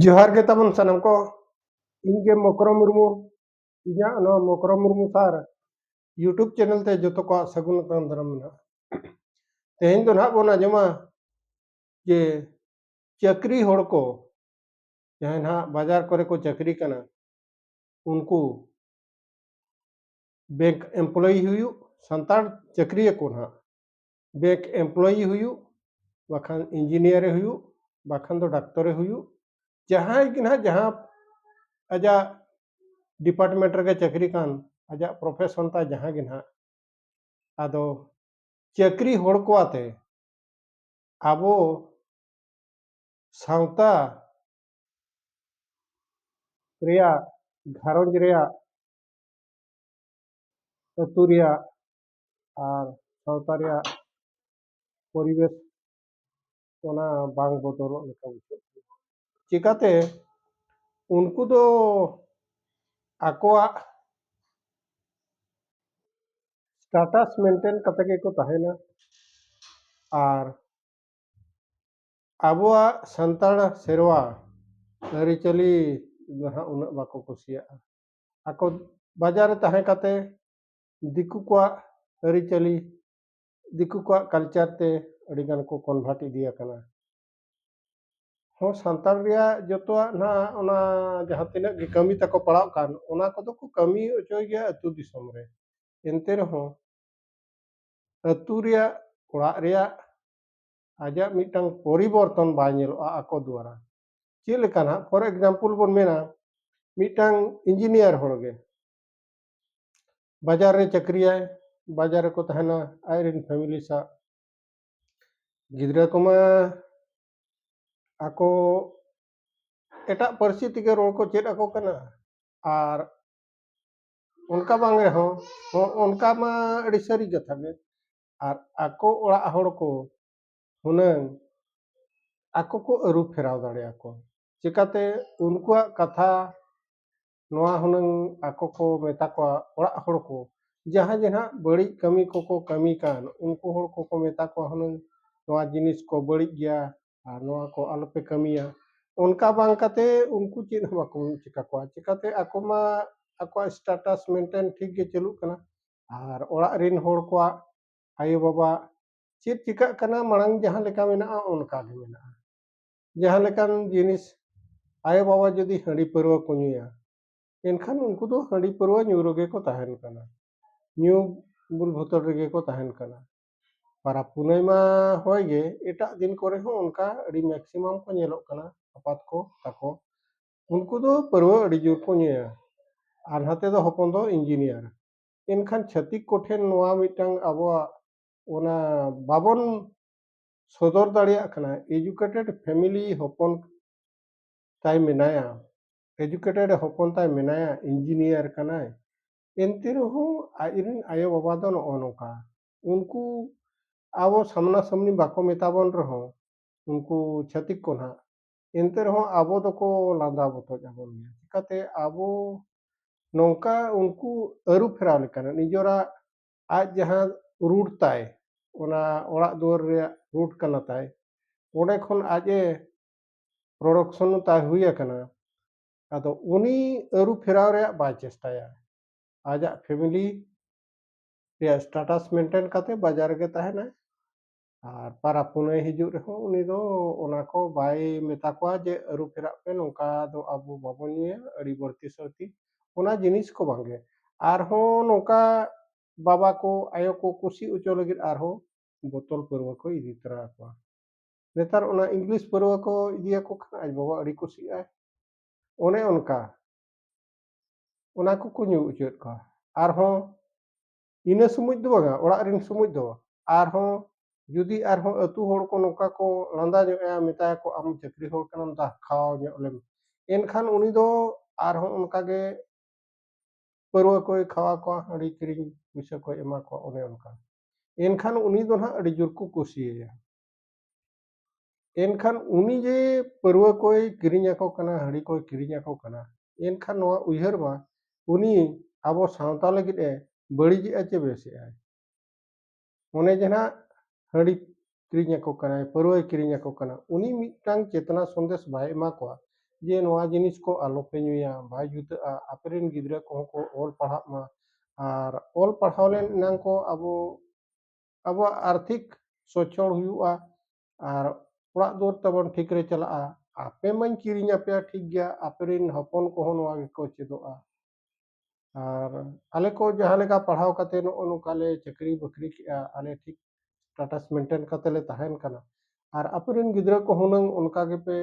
ᱡᱚᱦᱟᱨ ᱜᱮ ᱛᱟᱵᱚᱱ ᱥᱟᱱᱟᱢ ᱠᱚ ᱤᱧ ᱜᱮ ᱢᱚᱠᱨᱚ ᱢᱩᱨᱢᱩ ᱤᱧᱟᱹᱜ ᱱᱚᱣᱟ Mokro Murmu sir YouTube channel ᱛᱮ ᱡᱚᱛᱚ ᱠᱚᱣᱟᱜ ᱥᱟᱹᱜᱩᱱ ᱟᱛᱟᱝ ᱫᱟᱨᱟᱢ ᱢᱮᱱᱟᱜᱼᱟ ᱛᱮᱦᱮᱧ ᱫᱚ ᱱᱟᱦᱟᱜ ᱵᱚᱱ ᱟᱸᱡᱚᱢᱟ ᱡᱮ ᱪᱟᱹᱠᱨᱤ ᱦᱚᱲ ᱠᱚ ᱡᱟᱦᱟᱸᱭ ᱱᱟᱦᱟᱜ ᱵᱟᱡᱟᱨ ᱠᱚᱨᱮ ᱠᱚ ᱪᱟᱹᱠᱨᱤ ᱠᱟᱱᱟ ᱩᱱᱠᱩ ᱵᱮᱝᱠ ᱮᱢᱯᱞᱚᱭᱤ ᱦᱩᱭᱩᱜ ᱥᱟᱱᱛᱟᱲ ᱪᱟᱹᱠᱨᱤᱭᱟᱹ ᱠᱚ ᱱᱟᱦᱟᱜ ᱵᱮᱝᱠ ᱮᱢᱯᱞᱚᱭᱤ ᱦᱩᱭᱩᱜ ᱵᱟᱠᱷᱟᱱ ᱤᱧᱡᱤᱱᱤᱭᱟᱨᱮ ᱦᱩᱭᱩᱜ ᱵᱟᱠᱷᱟᱱ ᱫᱚ ᱰᱟᱠᱛᱚᱨᱮ ᱦᱩᱭᱩᱜ ᱡᱟᱦᱟᱸᱭ ᱜᱮ ᱱᱟᱦᱟᱜ ᱡᱟᱦᱟᱸ ᱟᱡᱟᱜ ᱰᱤᱯᱟᱨᱴᱢᱮᱱᱴ ᱨᱮᱜᱮ ᱪᱟᱹᱠᱨᱤ ᱠᱟᱱ ᱟᱡᱟᱜ ᱯᱨᱚᱯᱷᱮᱥᱚᱱ ᱛᱟᱭ ᱡᱟᱦᱟᱸ ᱜᱮ ᱱᱟᱦᱟᱜ ᱟᱫᱚ ᱪᱟᱹᱠᱨᱤ ᱦᱚᱲ ᱠᱚ ᱟᱛᱮ ᱟᱵᱚ ᱥᱟᱶᱛᱟ ᱨᱮᱭᱟᱜ ᱜᱷᱟᱨᱚᱸᱡᱽ ᱨᱮᱭᱟᱜ ᱟᱹᱛᱩ ᱨᱮᱭᱟᱜ ᱟᱨ ᱥᱟᱶᱛᱟ ᱨᱮᱭᱟᱜ ᱯᱚᱨᱤᱵᱮᱥ ᱚᱱᱟ ᱵᱟᱝ ᱵᱚᱫᱚᱞᱚᱜ ᱞᱮᱠᱟ ᱵᱩᱡᱷᱟᱹᱜ ᱠᱟᱱᱟ ᱪᱤᱠᱟᱹᱛᱮ ᱩᱱᱠᱩ ᱫᱚ ᱟᱠᱚᱣᱟᱜ ᱥᱴᱟᱴᱟᱥ ᱢᱮᱱᱴᱮᱱ ᱠᱟᱛᱮ ᱜᱮᱠᱚ ᱛᱟᱦᱮᱱᱟ ᱟᱨ ᱟᱵᱚᱣᱟᱜ ᱥᱟᱱᱛᱟᱲ ᱥᱮᱨᱣᱟ ᱟᱹᱨᱤᱪᱟᱹᱞᱤ ᱫᱚ ᱦᱟᱸᱜ ᱩᱱᱟᱹᱜ ᱵᱟᱠᱚ ᱠᱩᱥᱤᱭᱟᱜᱼᱟ ᱟᱠᱚ ᱵᱟᱡᱟᱨ ᱨᱮ ᱛᱟᱦᱮᱸ ᱠᱟᱛᱮ ᱫᱤᱠᱩ ᱠᱚᱣᱟᱜ ᱟᱹᱨᱤᱪᱟᱹᱞᱤ ᱫᱤᱠᱩ ᱠᱚᱣᱟᱜ ᱠᱟᱞᱪᱟᱨ ᱛᱮ ᱟᱹᱰᱤ ᱜᱟᱱ ᱠᱚ ᱠᱚᱱᱵᱷᱟᱨᱴ ᱤᱫᱤ ᱟᱠᱟᱱᱟ ᱦᱚᱸ ᱥᱟᱱᱛᱟᱲ ᱨᱮᱭᱟᱜ ᱡᱚᱛᱚᱣᱟᱜ ᱱᱟᱦᱟᱜ ᱚᱱᱟ ᱡᱟᱦᱟᱸ ᱛᱤᱱᱟᱹᱜ ᱜᱮ ᱠᱟᱹᱢᱤ ᱛᱟᱠᱚ ᱯᱟᱲᱟᱜ ᱠᱟᱱ ᱚᱱᱟ ᱠᱚᱫᱚ ᱠᱚ ᱠᱟᱹᱢᱤ ᱚᱪᱚᱭ ᱜᱮᱭᱟ ᱟᱹᱛᱩ ᱫᱤᱥᱚᱢ ᱨᱮ ᱮᱱᱛᱮ ᱨᱮᱦᱚᱸ ᱟᱹᱛᱩ ᱨᱮᱭᱟᱜ ᱚᱲᱟᱜ ᱨᱮᱭᱟᱜ ᱟᱡᱟᱜ ᱢᱤᱫᱴᱟᱝ ᱯᱚᱨᱤᱵᱚᱨᱛᱚᱱ ᱵᱟᱭ ᱧᱮᱞᱚᱜᱼᱟ ᱟᱠᱚ ᱫᱩᱣᱟᱨᱟ ᱪᱮᱫ ᱞᱮᱠᱟ ᱱᱟᱜ ᱯᱷᱚᱨ ᱮᱠᱡᱟᱢᱯᱚᱞ ᱵᱚᱱ ᱢᱮᱱᱟ ᱢᱤᱫᱴᱟᱝ ᱤᱧᱡᱤᱱᱤᱭᱟᱨ ᱦᱚᱲ ᱜᱮ ᱵᱟᱡᱟᱨ ᱨᱮ ᱪᱟᱹᱠᱨᱤᱭᱟᱭ ᱵᱟᱡᱟᱨ ᱨᱮᱠᱚ ᱛᱟᱦᱮᱱᱟ ᱟᱡ ᱨᱮᱱ ᱯᱷᱮᱢᱤᱞᱤ ᱥᱟᱶ ᱜᱤᱫᱽᱨᱟᱹ ᱠᱚᱢᱟ ᱟᱠᱚ ᱮᱴᱟᱜ ᱯᱟᱹᱨᱥᱤ ᱛᱮᱜᱮ ᱨᱚᱲ ᱠᱚ ᱪᱮᱫ ᱟᱠᱚ ᱠᱟᱱᱟ ᱟᱨ ᱚᱱᱠᱟ ᱵᱟᱝ ᱨᱮᱦᱚᱸ ᱚᱱᱠᱟ ᱢᱟ ᱟᱹᱰᱤ ᱥᱟᱹᱨᱤ ᱠᱟᱛᱷᱟ ᱜᱮ ᱟᱨ ᱟᱠᱚ ᱚᱲᱟᱜ ᱦᱚᱲ ᱠᱚ ᱦᱩᱱᱟᱹᱝ ᱟᱠᱚ ᱠᱚ ᱟᱹᱨᱩ ᱯᱷᱮᱨᱟᱣ ᱫᱟᱲᱮᱭᱟᱠᱚ ᱪᱤᱠᱟᱹᱛᱮ ᱩᱱᱠᱩᱣᱟᱜ ᱠᱟᱛᱷᱟ ᱱᱚᱣᱟ ᱦᱩᱱᱟᱹᱝ ᱟᱠᱚ ᱠᱚ ᱢᱮᱛᱟ ᱠᱚᱣᱟ ᱚᱲᱟᱜ ᱦᱚᱲ ᱠᱚ ᱡᱟᱦᱟᱸ ᱡᱮ ᱱᱟᱦᱟᱜ ᱵᱟᱹᱲᱤᱡ ᱠᱟᱹᱢᱤ ᱠᱚᱠᱚ ᱠᱟᱹᱢᱤ ᱠᱟᱱ ᱩᱱᱠᱩ ᱦᱚᱲ ᱠᱚᱠᱚ ᱢᱮᱛᱟ ᱠᱚᱣᱟ ᱦᱩᱱᱟᱹᱝ ᱱᱚᱣᱟ ᱡᱤᱱᱤᱥ ᱠᱚ ᱵᱟᱹᱲᱤᱡ ᱜᱮᱭᱟ ᱟᱨ ᱱᱚᱣᱟ ᱠᱚ ᱟᱞᱚᱯᱮ ᱠᱟᱹᱢᱤᱭᱟ ᱚᱱᱠᱟ ᱵᱟᱝ ᱠᱟᱛᱮ ᱩᱱᱠᱩ ᱪᱮᱫ ᱦᱚᱸ ᱵᱟᱠᱚ ᱪᱤᱠᱟ ᱠᱚᱣᱟ ᱪᱤᱠᱟᱹᱛᱮ ᱟᱠᱚ ᱢᱟ ᱟᱠᱚᱣᱟᱜ ᱥᱴᱮᱴᱟᱥ ᱢᱮᱱᱴᱮᱱ ᱴᱷᱤᱠ ᱜᱮ ᱪᱟᱹᱞᱩᱜ ᱠᱟᱱᱟ ᱟᱨ ᱚᱲᱟᱜ ᱨᱤᱱ ᱦᱚᱲ ᱠᱚᱣᱟᱜ ᱟᱭᱳ ᱵᱟᱵᱟ ᱪᱮᱫ ᱪᱤᱠᱟᱹᱜ ᱠᱟᱱᱟ ᱢᱟᱲᱟᱝ ᱡᱟᱦᱟᱸ ᱞᱮᱠᱟ ᱢᱮᱱᱟᱜᱼᱟ ᱚᱱᱠᱟ ᱜᱮ ᱢᱮᱱᱟᱜᱼᱟ ᱡᱟᱦᱟᱸ ᱞᱮᱠᱟᱱ ᱡᱤᱱᱤᱥ ᱟᱭᱳ ᱵᱟᱵᱟ ᱡᱩᱫᱤ ᱦᱟᱺᱰᱤ ᱯᱟᱹᱨᱣᱟᱹ ᱠᱚ ᱧᱩᱭᱟ ᱮᱱᱠᱷᱟᱱ ᱩᱱᱠᱩ ᱫᱚ ᱦᱟᱺᱰᱤ ᱯᱟᱹᱨᱣᱟᱹ ᱧᱩ ᱨᱮᱜᱮ ᱠᱚ ᱛᱟᱦᱮᱱ ᱠᱟᱱᱟ ᱧᱩ ᱵᱩᱞ ᱵᱷᱚᱛᱚᱲ ᱨᱮᱜᱮ ᱠᱚ ᱛᱟᱦᱮᱱ ᱠᱟᱱᱟ ᱯᱟᱨᱟᱵᱽ ᱯᱩᱱᱟᱹᱭ ᱢᱟ ᱦᱳᱭ ᱜᱮ ᱮᱴᱟᱜ ᱫᱤᱱ ᱠᱚᱨᱮ ᱦᱚᱸ ᱚᱱᱠᱟ ᱟᱹᱰᱤ ᱢᱮᱠᱥᱤᱢᱟᱢ ᱠᱚ ᱧᱮᱞᱚᱜ ᱠᱟᱱᱟ ᱟᱯᱟᱛ ᱠᱚ ᱛᱟᱠᱚ ᱩᱱᱠᱩ ᱫᱚ ᱯᱟᱹᱨᱣᱟᱹ ᱟᱹᱰᱤ ᱡᱳᱨ ᱠᱚ ᱧᱩᱭᱟ ᱟᱨ ᱱᱟᱛᱮ ᱫᱚ ᱦᱚᱯᱚᱱ ᱫᱚ ᱤᱧᱡᱤᱱᱤᱭᱟᱨ ᱮᱱᱠᱷᱟᱱ ᱪᱷᱟᱹᱛᱤᱠ ᱠᱚᱴᱷᱮᱱ ᱱᱚᱣᱟ ᱢᱤᱫᱴᱟᱝ ᱟᱵᱚᱣᱟᱜ ᱚᱱᱟ ᱵᱟᱵᱚᱱ ᱥᱚᱫᱚᱨ ᱫᱟᱲᱮᱭᱟᱜ ᱠᱟᱱᱟ ᱮᱡᱩᱠᱮᱴᱮᱰ ᱯᱷᱮᱢᱤᱞᱤ ᱦᱚᱯᱚᱱ ᱛᱟᱭ ᱢᱮᱱᱟᱭᱟ ᱮᱡᱩᱠᱮᱴᱮᱰ ᱦᱚᱯᱚᱱ ᱛᱟᱭ ᱢᱮᱱᱟᱭᱟ ᱤᱧᱡᱤᱱᱤᱭᱟᱨ ᱠᱟᱱᱟᱭ ᱮᱱᱛᱮ ᱨᱮᱦᱚᱸ ᱟᱡ ᱨᱮᱱ ᱟᱭᱳ ᱵᱟᱵᱟ ᱫᱚ ᱱᱚᱜᱼᱚ ᱱᱚᱝᱠᱟ ᱩᱱᱠᱩ ᱟᱵᱚ ᱥᱟᱢᱱᱟ ᱥᱟᱢᱱᱤ ᱵᱟᱠᱚ ᱢᱮᱛᱟ ᱵᱚᱱ ᱨᱮᱦᱚᱸ ᱩᱱᱠᱩ ᱪᱷᱟᱹᱛᱤᱠ ᱠᱚ ᱱᱟᱦᱟᱜ ᱮᱱᱛᱮ ᱨᱮᱦᱚᱸ ᱟᱵᱚ ᱫᱚᱠᱚ ᱞᱟᱸᱫᱟ ᱵᱚᱛᱚᱡ ᱟᱵᱚᱱ ᱜᱮᱭᱟ ᱪᱤᱠᱟᱹᱛᱮ ᱟᱵᱚ ᱱᱚᱝᱠᱟ ᱩᱱᱠᱩ ᱟᱹᱨᱩ ᱯᱷᱮᱨᱟᱣ ᱞᱮᱠᱟᱱᱟᱜ ᱱᱤᱡᱚᱨᱟᱜ ᱟᱡ ᱡᱟᱦᱟᱸ ᱨᱩᱴ ᱛᱟᱭ ᱚᱱᱟ ᱚᱲᱟᱜ ᱫᱩᱣᱟᱹᱨ ᱨᱮᱭᱟᱜ ᱨᱩᱴ ᱠᱟᱱᱟ ᱛᱟᱭ ᱚᱸᱰᱮ ᱠᱷᱚᱱ ᱟᱡ ᱮ ᱯᱨᱚᱰᱚᱠᱥᱚᱱ ᱛᱟᱭ ᱦᱩᱭ ᱟᱠᱟᱱᱟ ᱟᱫᱚ ᱩᱱᱤ ᱟᱹᱨᱩ ᱯᱷᱮᱨᱟᱣ ᱨᱮᱭᱟᱜ ᱵᱟᱭ ᱪᱮᱥᱴᱟᱭᱟ ᱟᱡᱟᱜ ᱯᱷᱮᱢᱤᱞᱤ ᱨᱮᱭᱟᱜ ᱥᱴᱟᱴᱟᱥ ᱢᱮᱱᱴᱮᱱ ᱠᱟᱛᱮ ᱵᱟᱡᱟᱨ ᱨᱮᱜᱮ ᱛᱟᱦᱮᱱᱟᱭ ᱟᱨ ᱯᱟᱨᱟᱵᱽ ᱯᱩᱱᱟᱹᱭ ᱦᱤᱡᱩᱜ ᱨᱮᱦᱚᱸ ᱩᱱᱤ ᱫᱚ ᱚᱱᱟ ᱠᱚ ᱵᱟᱭ ᱢᱮᱛᱟ ᱠᱚᱣᱟ ᱡᱮ ᱟᱹᱨᱩ ᱯᱷᱮᱨᱟᱜ ᱯᱮ ᱱᱚᱝᱠᱟ ᱫᱚ ᱟᱵᱚ ᱵᱟᱵᱚᱱ ᱧᱩᱭᱟ ᱟᱹᱰᱤ ᱵᱟᱹᱲᱛᱤ ᱥᱟᱹᱲᱛᱤ ᱚᱱᱟ ᱡᱤᱱᱤᱥ ᱠᱚ ᱵᱟᱝ ᱜᱮ ᱟᱨᱦᱚᱸ ᱱᱚᱝᱠᱟ ᱵᱟᱵᱟ ᱠᱚ ᱟᱭᱳ ᱠᱚ ᱠᱩᱥᱤ ᱚᱪᱚ ᱞᱟᱹᱜᱤᱫ ᱟᱨᱦᱚᱸ ᱵᱳᱛᱚᱞ ᱯᱟᱹᱨᱣᱟᱹ ᱠᱚ ᱤᱫᱤ ᱛᱚᱨᱟ ᱟᱠᱚᱣᱟ ᱱᱮᱛᱟᱨ ᱚᱱᱟ ᱤᱝᱞᱤᱥ ᱯᱟᱹᱨᱣᱟᱹ ᱠᱚ ᱤᱫᱤᱭᱟᱠᱚ ᱠᱷᱟᱱ ᱟᱡ ᱵᱟᱵᱟ ᱟᱹᱰᱤ ᱠᱩᱥᱤᱜᱼᱟᱭ ᱚᱱᱮ ᱚᱱᱠᱟ ᱚᱱᱟ ᱠᱚᱠᱚ ᱧᱩ ᱚᱪᱚᱭᱮᱫ ᱠᱚᱣᱟ ᱟᱨᱦᱚᱸ ᱤᱱᱟᱹ ᱥᱚᱢᱚᱭ ᱫᱚ ᱵᱟᱝᱟ ᱚᱲᱟᱜ ᱨᱮᱱ ᱥᱚᱢᱚᱭ ᱫᱚ ᱟᱨᱦᱚᱸ ᱡᱩᱫᱤ ᱟᱨᱦᱚᱸ ᱟᱹᱛᱩ ᱦᱚᱲ ᱠᱚ ᱱᱚᱝᱠᱟ ᱠᱚ ᱞᱟᱸᱫᱟ ᱧᱚᱜ ᱮᱭᱟ ᱢᱮᱛᱟᱭᱟᱠᱚ ᱟᱢ ᱪᱟᱹᱠᱨᱤ ᱦᱚᱲ ᱠᱟᱱᱟᱢ ᱫᱟ ᱠᱷᱟᱣᱟᱣ ᱧᱚᱜ ᱞᱮᱢ ᱮᱱᱠᱷᱟᱱ ᱩᱱᱤ ᱫᱚ ᱟᱨᱦᱚᱸ ᱚᱱᱠᱟᱜᱮ ᱯᱟᱹᱨᱣᱟᱹ ᱠᱚᱭ ᱠᱷᱟᱣᱟ ᱠᱚᱣᱟ ᱦᱟᱺᱰᱤ ᱠᱤᱨᱤᱧ ᱯᱩᱭᱥᱟᱹ ᱠᱚᱭ ᱮᱢᱟ ᱠᱚᱣᱟ ᱚᱱᱮ ᱚᱱᱠᱟ ᱮᱱᱠᱷᱟᱱ ᱩᱱᱤ ᱫᱚ ᱱᱟᱦᱟᱜ ᱟᱹᱰᱤ ᱡᱳᱨ ᱠᱚ ᱠᱩᱥᱤᱭᱟᱭᱟ ᱮᱱᱠᱷᱟᱱ ᱩᱱᱤ ᱡᱮ ᱯᱟᱹᱨᱣᱟᱹ ᱠᱚᱭ ᱠᱤᱨᱤᱧ ᱟᱠᱚ ᱠᱟᱱᱟ ᱦᱟᱺᱰᱤ ᱠᱚᱭ ᱠᱤᱨᱤᱧ ᱟᱠᱚ ᱠᱟᱱᱟ ᱮᱱᱠᱷᱟᱱ ᱱᱚᱣᱟ ᱩᱭᱦᱟᱹᱨ ᱢᱟ ᱩᱱᱤ ᱟᱵᱚ ᱥᱟᱶᱛᱟ ᱞᱟᱹᱜᱤᱫ ᱮ ᱵᱟᱹᱲᱤᱡᱮᱜᱼᱟ ᱪᱮ ᱵᱮᱥᱮᱜᱼᱟᱭ ᱚᱱᱮ ᱡᱮ ᱱᱟᱜ ᱦᱟᱺᱰᱤ ᱠᱤᱨᱤᱧ ᱟᱠᱚ ᱠᱟᱱᱟᱭ ᱯᱟᱹᱨᱣᱟᱹᱭ ᱠᱤᱨᱤᱧ ᱟᱠᱚ ᱠᱟᱱᱟ ᱩᱱᱤ ᱢᱤᱫᱴᱟᱝ ᱪᱮᱛᱱᱟ ᱥᱚᱱᱫᱮᱥ ᱵᱟᱭ ᱮᱢᱟ ᱠᱚᱣᱟ ᱡᱮ ᱱᱚᱣᱟ ᱡᱤᱱᱤᱥ ᱠᱚ ᱟᱞᱚᱯᱮ ᱧᱩᱭᱟ ᱵᱟᱭ ᱡᱩᱛᱟᱹᱜᱼᱟ ᱟᱯᱮ ᱨᱮᱱ ᱜᱤᱫᱽᱨᱟᱹ ᱠᱚᱦᱚᱸ ᱠᱚ ᱚᱞ ᱯᱟᱲᱦᱟᱜ ᱢᱟ ᱟᱨ ᱚᱞ ᱯᱟᱲᱦᱟᱣ ᱞᱮᱱ ᱮᱱᱟᱝ ᱠᱚ ᱟᱵᱚ ᱟᱵᱚᱣᱟᱜ ᱟᱨᱛᱷᱤᱠ ᱥᱚᱪᱷᱚᱞ ᱦᱩᱭᱩᱜᱼᱟ ᱟᱨ ᱚᱲᱟᱜ ᱫᱩᱣᱟᱹᱨ ᱛᱟᱵᱚᱱ ᱴᱷᱤᱠ ᱨᱮ ᱪᱟᱞᱟᱜᱼᱟ ᱟᱯᱮ ᱢᱟᱧ ᱠᱤᱨᱤᱧ ᱟᱯᱮᱭᱟ ᱴᱷᱤᱠ ᱜᱮᱭᱟ ᱟᱯᱮ ᱨᱮᱱ ᱦᱚᱯᱚᱱ ᱠᱚᱦᱚᱸ ᱱᱚᱣᱟ ᱜᱮᱠᱚ ᱪᱮᱫᱚᱜᱼᱟ ᱟᱨ ᱟᱞᱮ ᱠᱚ ᱡᱟᱦᱟᱸ ᱞᱮᱠᱟ ᱯᱟᱲᱦᱟᱣ ᱠᱟᱛᱮ ᱱᱚᱜᱼᱚ ᱱᱚᱝᱠᱟ ᱞᱮ ᱪᱟᱹᱠᱨᱤ ᱵᱟᱹᱠᱨᱤ ᱠᱮᱜᱼᱟ ᱟᱞᱮ ᱴᱷᱤᱠ ᱥᱴᱮᱴᱟᱥ ᱢᱮᱱᱴᱮᱱ ᱠᱟᱛᱮ ᱞᱮ ᱛᱟᱦᱮᱱ ᱠᱟᱱᱟ ᱟᱨ ᱟᱯᱮ ᱨᱮᱱ ᱜᱤᱫᱽᱨᱟᱹ ᱠᱚ ᱦᱩᱱᱟᱹᱝ ᱚᱱᱠᱟ ᱜᱮᱯᱮ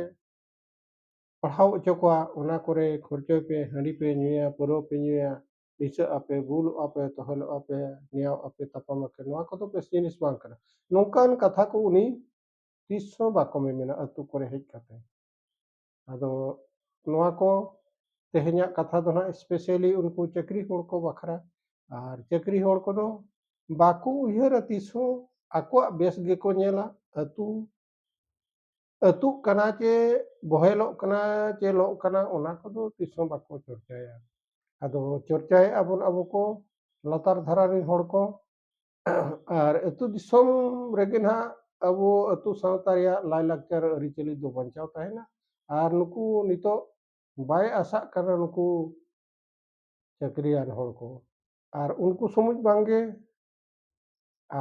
ᱯᱟᱲᱦᱟᱣ ᱦᱚᱪᱚ ᱠᱚᱣᱟ ᱚᱱᱟ ᱠᱚᱨᱮ ᱠᱷᱚᱨᱪᱚᱭ ᱯᱮ ᱦᱟᱺᱰᱤ ᱯᱮ ᱧᱩᱭᱟ ᱯᱟᱹᱨᱣᱟᱹ ᱯᱮ ᱧᱩᱭᱟ ᱫᱤᱥᱟᱹᱜ ᱟᱯᱮ ᱵᱩᱞᱩᱜ ᱟᱯᱮ ᱛᱚᱦᱮᱞᱚᱜ ᱟᱯᱮ ᱱᱮᱭᱟᱣ ᱟᱯᱮ ᱛᱟᱯᱟᱢ ᱟᱯᱮ ᱱᱚᱣᱟ ᱠᱚᱫᱚ ᱵᱮᱥ ᱡᱤᱱᱤᱥ ᱵᱟᱝ ᱠᱟᱱᱟ ᱱᱚᱝᱠᱟᱱ ᱠᱟᱛᱷᱟ ᱠᱚ ᱩᱱᱤ ᱛᱤᱥ ᱦᱚᱸ ᱵᱟᱠᱚ ᱢᱮᱢᱮᱱᱟ ᱟᱹᱛᱩ ᱠᱚᱨᱮ ᱦᱮᱡ ᱠᱟᱛᱮ ᱟᱫᱚ ᱱᱚᱣᱟ ᱠᱚ ᱛᱮᱦᱮᱧᱟᱜ ᱠᱟᱛᱷᱟ ᱫᱚ ᱱᱟᱦᱟᱜ ᱥᱯᱮᱥᱟᱞᱤ ᱩᱱᱠᱩ ᱪᱟᱹᱠᱨᱤ ᱦᱚᱲ ᱠᱚ ᱵᱟᱠᱷᱨᱟ ᱟᱨ ᱪᱟᱹᱠᱨᱤ ᱦᱚᱲ ᱠᱚᱫᱚ ᱵᱟᱠᱚ ᱩᱭᱦᱟᱹᱨᱟ ᱛᱤᱥ ᱦᱚᱸ ᱟᱠᱚᱣᱟᱜ ᱵᱮᱥ ᱜᱮᱠᱚ ᱧᱮᱞᱟ ᱟᱹᱛᱩ ᱟᱹᱛᱩᱜ ᱠᱟᱱᱟ ᱪᱮ ᱵᱚᱦᱮᱞᱚᱜ ᱠᱟᱱᱟ ᱪᱮ ᱞᱚᱜ ᱠᱟᱱᱟ ᱚᱱᱟ ᱠᱚᱫᱚ ᱛᱤᱥ ᱦᱚᱸ ᱵᱟᱠᱚ ᱪᱚᱨᱪᱟᱭᱟ ᱟᱫᱚ ᱪᱚᱨᱪᱟᱭᱮᱫᱼᱟ ᱵᱚᱱ ᱟᱵᱚ ᱠᱚ ᱞᱟᱛᱟᱨ ᱫᱷᱟᱨᱟ ᱨᱮᱱ ᱦᱚᱲ ᱠᱚ ᱟᱨ ᱟᱹᱛᱩ ᱫᱤᱥᱚᱢ ᱨᱮᱜᱮ ᱱᱟᱦᱟᱜ ᱟᱵᱚ ᱟᱹᱛᱩ ᱥᱟᱶᱛᱟ ᱨᱮᱭᱟᱜ ᱞᱟᱭᱼᱞᱟᱠᱪᱟᱨ ᱟᱹᱨᱤᱪᱟᱹᱞᱤ ᱫᱚ ᱵᱟᱧᱪᱟᱣ ᱛᱟᱦᱮᱱᱟ ᱟᱨ ᱱᱩᱠᱩ ᱱᱤᱛᱚᱜ ᱵᱟᱭ ᱟᱥᱟᱜ ᱠᱟᱱᱟ ᱱᱩᱠᱩ ᱪᱟᱹᱠᱨᱤᱭᱟᱱ ᱦᱚᱲ ᱠᱚ ᱟᱨ ᱩᱱᱠᱩ ᱥᱚᱢᱩᱡ ᱵᱟᱝᱜᱮ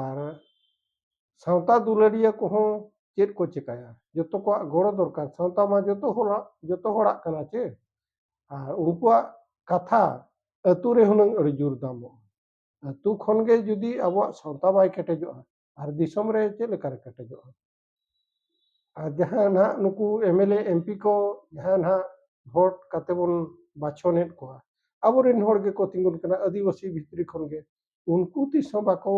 ᱟᱨ ᱥᱟᱶᱛᱟ ᱫᱩᱞᱟᱹᱲᱤᱭᱟᱹ ᱠᱚᱦᱚᱸ ᱪᱮᱫ ᱠᱚ ᱪᱤᱠᱟᱹᱭᱟ ᱡᱚᱛᱚ ᱠᱚᱣᱟᱜ ᱜᱚᱲᱚ ᱫᱚᱨᱠᱟᱨ ᱥᱟᱶᱛᱟ ᱢᱟ ᱡᱚᱛᱚ ᱦᱚᱲᱟᱜ ᱡᱚᱛᱚ ᱦᱚᱲᱟᱜ ᱠᱟᱱᱟ ᱪᱮ ᱟᱨ ᱩᱱᱠᱩᱣᱟᱜ ᱠᱟᱛᱷᱟ ᱟᱹᱛᱩ ᱨᱮ ᱦᱩᱱᱟᱹᱝ ᱟᱹᱰᱤ ᱡᱳᱨ ᱫᱟᱢᱚᱜᱼᱟ ᱟᱹᱛᱩ ᱠᱷᱚᱱ ᱜᱮ ᱡᱩᱫᱤ ᱟᱵᱚᱣᱟᱜ ᱥᱟᱶᱛᱟ ᱵᱟᱭ ᱠᱮᱴᱮᱡᱚᱜᱼᱟ ᱟᱨ ᱫᱤᱥᱚᱢ ᱨᱮ ᱪᱮᱫ ᱞᱮᱠᱟᱨᱮ ᱠᱮᱴᱮᱡᱚᱜᱼᱟ ᱟᱨ ᱡᱟᱦᱟᱸ ᱱᱟᱦᱟᱜ ᱱᱩᱠᱩ ᱮᱢᱮᱞᱮ ᱮᱢᱯᱤ ᱠᱚ ᱡᱟᱦᱟᱸ ᱱᱟᱦᱟᱜ ᱵᱷᱳᱴ ᱠᱟᱛᱮ ᱵᱚᱱ ᱵᱟᱪᱷᱚᱱᱮᱫ ᱠᱚᱣᱟ ᱟᱵᱚᱨᱮᱱ ᱦᱚᱲ ᱜᱮᱠᱚ ᱛᱤᱸᱜᱩᱱ ᱠᱟᱱᱟ ᱟᱹᱫᱤᱵᱟᱹᱥᱤ ᱵᱷᱤᱛᱨᱤ ᱠᱷᱚᱱ ᱜᱮ ᱩᱱᱠᱩ ᱛᱤᱥ ᱦᱚᱸ ᱵᱟᱠᱚ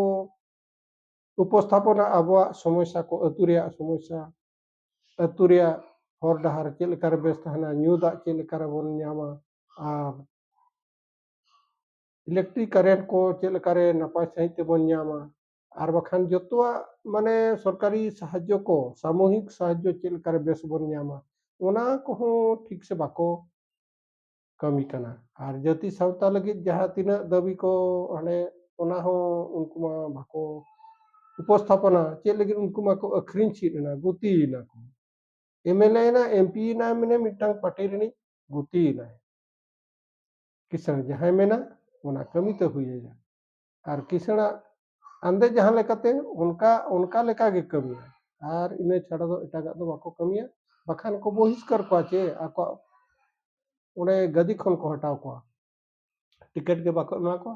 ᱩᱯᱚᱥᱛᱷᱟᱯᱚᱱᱟ ᱟᱵᱚᱣᱟᱜ ᱥᱚᱢᱚᱥᱥᱟ ᱠᱚ ᱟᱹᱛᱩ ᱨᱮᱭᱟᱜ ᱥᱚᱢᱚᱥᱥᱟ ᱟᱹᱛᱩ ᱨᱮᱭᱟᱜ ᱦᱚᱨ ᱰᱟᱦᱟᱨ ᱪᱮᱫ ᱞᱮᱠᱟᱨᱮ ᱵᱮᱥ ᱛᱟᱦᱮᱱᱟ ᱧᱩ ᱫᱟᱜ ᱪᱮᱫ ᱞᱮᱠᱟᱨᱮ ᱵᱚᱱ ᱧᱟᱢᱟ ᱟᱨ ᱤᱞᱮᱠᱴᱨᱤᱠ ᱠᱟᱨᱮᱱᱴ ᱠᱚ ᱪᱮᱫ ᱞᱮᱠᱟᱨᱮ ᱱᱟᱯᱟᱭ ᱥᱟᱺᱦᱤᱡ ᱛᱮᱵᱚᱱ ᱧᱟᱢᱟ ᱟᱨ ᱵᱟᱠᱷᱟᱱ ᱡᱚᱛᱚᱣᱟᱜ ᱢᱟᱱᱮ ᱥᱚᱨᱠᱟᱨᱤ ᱥᱟᱦᱟᱡᱽᱡᱚ ᱠᱚ ᱥᱟᱢᱚᱦᱤᱠ ᱥᱟᱦᱟᱡᱽᱡᱚ ᱪᱮᱫ ᱞᱮᱠᱟᱨᱮ ᱵᱮᱥ ᱵᱚᱱ ᱧᱟᱢᱟ ᱚᱱᱟ ᱠᱚᱦᱚᱸ ᱴᱷᱤᱠ ᱥᱮ ᱵᱟᱠᱚ ᱠᱟᱹᱢᱤ ᱠᱟᱱᱟ ᱟᱨ ᱡᱟᱹᱛᱤ ᱥᱟᱶᱛᱟ ᱞᱟᱹᱜᱤᱫ ᱡᱟᱦᱟᱸ ᱛᱤᱱᱟᱹᱜ ᱫᱟᱹᱵᱤ ᱠᱚ ᱦᱟᱸᱰᱮ ᱚᱱᱟ ᱦᱚᱸ ᱩᱱᱠᱩ ᱢᱟ ᱵᱟᱠᱚ ᱩᱯᱚᱥᱛᱷᱟᱯᱚᱱᱟ ᱪᱮᱫ ᱞᱟᱹᱜᱤᱫ ᱩᱱᱠᱩ ᱢᱟᱠᱚ ᱟᱹᱠᱷᱨᱤᱧ ᱪᱮᱫ ᱮᱱᱟ ᱜᱩᱛᱤᱭᱮᱱᱟ ᱠᱚ ᱮᱢᱮᱞᱮ ᱮᱱᱟ ᱮᱢᱯᱤ ᱮᱱᱟ ᱢᱟᱱᱮ ᱢᱤᱫᱴᱟᱝ ᱯᱟᱴᱤ ᱨᱤᱱᱤᱡ ᱜᱩᱛᱤᱭᱮᱱᱟᱭ ᱠᱤᱥᱟᱹᱬ ᱡᱟᱦᱟᱸᱭ ᱢᱮᱱᱟ ᱚᱱᱟ ᱠᱟᱹᱢᱤ ᱛᱮ ᱦᱩᱭᱟᱭᱟ ᱟᱨ ᱠᱤᱥᱟᱹᱬᱟᱜ ᱟᱸᱫᱮ ᱡᱟᱦᱟᱸ ᱞᱮᱠᱟᱛᱮ ᱚᱱᱠᱟ ᱚᱱᱠᱟ ᱞᱮᱠᱟ ᱜᱮ ᱠᱟᱹᱢᱤᱭᱟ ᱟᱨ ᱤᱱᱟᱹ ᱪᱷᱟᱰᱟ ᱫᱚ ᱮᱴᱟᱜᱟᱜ ᱫᱚ ᱵᱟᱠᱚ ᱠᱟᱹᱢᱤᱭᱟ ᱵᱟᱠᱷᱟᱱ ᱠᱚ ᱵᱚᱦᱤᱥᱠᱟᱨ ᱠᱚᱣᱟ ᱪᱮ ᱟᱠᱚᱣᱟᱜ ᱚᱸᱰᱮ ᱜᱟᱹᱫᱤ ᱠᱷᱚᱱ ᱠᱚ ᱦᱟᱴᱟᱣ ᱠᱚᱣᱟ ᱴᱤᱠᱮᱴ ᱜᱮ ᱵᱟᱠᱚ ᱮᱢᱟ ᱠᱚᱣᱟ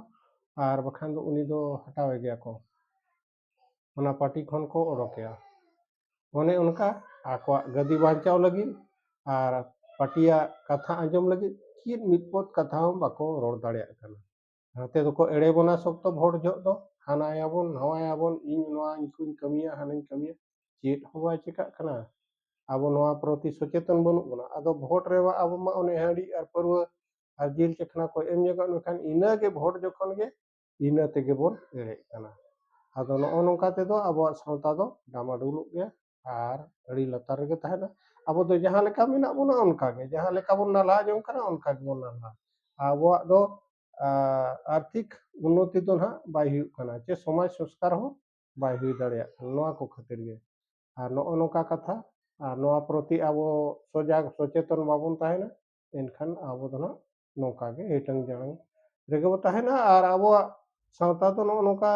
ᱟᱨ ᱵᱟᱠᱷᱟᱱ ᱫᱚ ᱩᱱᱤ ᱫᱚ ᱦᱟᱴᱟᱣᱮ ᱜᱮᱭᱟ ᱠᱚ ᱚᱱᱟ ᱯᱟᱨᱴᱤ ᱠᱷᱚᱱ ᱠᱚ ᱚᱰᱚᱠᱮᱭᱟ ᱚᱱᱮ ᱚᱱᱠᱟ ᱟᱠᱚᱣᱟᱜ ᱜᱟᱹᱫᱤ ᱵᱟᱧᱪᱟᱣ ᱞᱟᱹᱜᱤᱫ ᱟᱨ ᱯᱟᱨᱴᱤᱭᱟᱜ ᱠᱟᱛᱷᱟ ᱟᱸᱡᱚᱢ ᱞᱟᱹᱜᱤᱫ ᱪᱮᱫ ᱢᱤᱫ ᱯᱚᱫ ᱠᱟᱛᱷᱟ ᱦᱚᱸ ᱵᱟᱠᱚ ᱨᱚᱲ ᱫᱟᱲᱮᱭᱟᱜ ᱠᱟᱱᱟ ᱱᱚᱛᱮ ᱫᱚᱠᱚ ᱮᱲᱮ ᱵᱚᱱᱟ ᱥᱚᱠᱛᱚ ᱵᱷᱳᱴ ᱡᱚᱦᱚᱜ ᱫᱚ ᱦᱟᱱᱟᱭᱟᱵᱚᱱ ᱱᱟᱣᱟᱭᱟᱵᱚᱱ ᱤᱧ ᱱᱚᱣᱟ ᱤᱧᱠᱚᱧ ᱠᱟᱹᱢᱤᱭᱟ ᱦᱟᱱᱟᱧ ᱠᱟᱹᱢᱤᱭᱟ ᱪᱮᱫ ᱦᱚᱸ ᱵᱟᱭ ᱪᱮᱠᱟᱜ ᱠᱟᱱᱟ ᱟᱵᱚ ᱱᱚᱣᱟ ᱯᱨᱚᱛᱤ ᱥᱚᱪᱮᱛᱚᱱ ᱵᱟᱹᱱᱩᱜ ᱵᱚᱱᱟ ᱟᱫᱚ ᱵᱷᱳᱴ ᱨᱮ ᱟᱵᱚ ᱢᱟ ᱚᱱᱮ ᱦᱟᱺᱰᱤ ᱟᱨ ᱯᱟᱹᱨᱣᱟᱹ ᱟᱨ ᱡᱤᱞ ᱪᱟᱠᱷᱱᱟ ᱠᱚ ᱮᱢ ᱧᱚᱜᱚᱜ ᱢᱮᱠᱷᱟᱱ ᱤᱱᱟᱹᱜᱮ ᱵᱷᱳᱴ ᱡᱚᱠᱷᱚᱱ ᱜᱮ ᱤᱱᱟᱹ ᱛᱮᱜᱮ ᱵᱚᱱ ᱮᱲᱮᱜ ᱠᱟᱱᱟ ᱟᱫᱚ ᱱᱚᱜᱼᱚ ᱱᱚᱝᱠᱟ ᱛᱮᱫᱚ ᱟᱵᱚᱣᱟᱜ ᱥᱟᱶᱛᱟ ᱫᱚ ᱰᱟᱢᱟᱰᱩᱞᱚᱜ ᱜᱮᱭᱟ ᱟᱨ ᱟᱹᱰᱤ ᱞᱟᱛᱟᱨ ᱨᱮᱜᱮ ᱛᱟᱦᱮᱱᱟ ᱟᱵᱚ ᱫᱚ ᱡᱟᱦᱟᱸ ᱞᱮᱠᱟ ᱢᱮᱱᱟᱜ ᱵᱚᱱᱟ ᱚᱱᱠᱟ ᱜᱮ ᱡᱟᱦᱟᱸ ᱞᱮᱠᱟ ᱵᱚᱱ ᱱᱟᱞᱦᱟ ᱡᱚᱝ ᱠᱟᱱᱟ ᱚᱱᱠᱟ ᱜᱮᱵᱚᱱ ᱱᱟᱞᱦᱟ ᱟᱵᱚᱣᱟᱜ ᱫᱚ ᱟᱨᱛᱷᱤᱠ ᱩᱱᱱᱚᱛᱤ ᱫᱚ ᱱᱟᱦᱟᱜ ᱵᱟᱭ ᱦᱩᱭᱩᱜ ᱠᱟᱱᱟ ᱪᱮ ᱥᱚᱢᱟᱡᱽ ᱥᱚᱝᱥᱠᱟᱨ ᱦᱚᱸ ᱵᱟᱭ ᱦᱩᱭ ᱫᱟᱲᱮᱭᱟᱜ ᱠᱟᱱᱟ ᱱᱚᱣᱟ ᱠᱚ ᱠᱷᱟᱹᱛᱤᱨ ᱜᱮ ᱟᱨ ᱱᱚᱜᱼᱚ ᱱᱚᱝᱠᱟ ᱠᱟᱛᱷᱟ ᱟᱨ ᱱᱚᱣᱟ ᱯᱨᱚᱛᱤ ᱟᱵᱚ ᱥᱚᱡᱟᱜᱽ ᱥᱚᱪᱮᱛᱚᱱ ᱵᱟᱵᱚᱱ ᱛᱟᱦᱮᱱᱟ ᱮᱱᱠᱷᱟᱱ ᱟᱵᱚ ᱫᱚ ᱱᱟᱦᱟᱜ ᱱᱚᱝᱠᱟ ᱜᱮ ᱦᱤᱴᱟᱹᱝ ᱡᱟᱲᱟᱝ ᱨᱮᱜᱮ ᱵᱚ ᱛᱟᱦᱮᱱᱟ ᱟᱨ ᱟᱵᱚᱣᱟᱜ ᱥᱟᱶᱛᱟ ᱫᱚ ᱱᱚᱜᱼᱚ ᱱᱚᱝᱠᱟ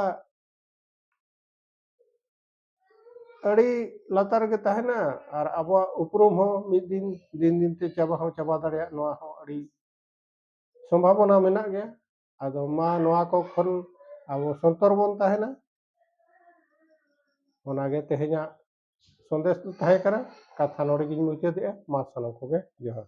ᱟᱹᱰᱤ ᱞᱟᱛᱟᱨ ᱨᱮᱜᱮ ᱛᱟᱦᱮᱱᱟ ᱟᱨ ᱟᱵᱚᱣᱟᱜ ᱩᱯᱨᱩᱢ ᱦᱚᱸ ᱢᱤᱫ ᱫᱤᱱ ᱫᱤᱱ ᱫᱤᱱ ᱛᱮ ᱪᱟᱵᱟ ᱦᱚᱸ ᱪᱟᱵᱟ ᱫᱟᱲᱮᱭᱟᱜ ᱱᱚᱣᱟ ᱦᱚᱸ ᱟᱹᱰᱤ ᱥᱚᱢᱵᱷᱟᱵᱚᱱᱟ ᱢᱮᱱᱟᱜ ᱜᱮᱭᱟ ᱟᱫᱚ ᱢᱟ ᱱᱚᱣᱟ ᱠᱚ ᱠᱷᱚᱱ ᱟᱵᱚ ᱥᱚᱱᱛᱚᱨ ᱵᱚᱱ ᱛᱟᱦᱮᱱᱟ ᱚᱱᱟᱜᱮ ᱛᱮᱦᱮᱧᱟᱜ ᱥᱚᱱᱫᱮᱥ ᱫᱚ ᱛᱟᱦᱮᱸ ᱠᱟᱱᱟ ᱠᱟᱛᱷᱟ ᱱᱚᱰᱮ ᱜᱤᱧ ᱢᱩᱪᱟᱹᱫᱮᱜᱼᱟ ᱢᱟ ᱥᱟᱱᱟᱢ ᱠᱚᱜᱮ ᱡᱚᱦᱟᱨ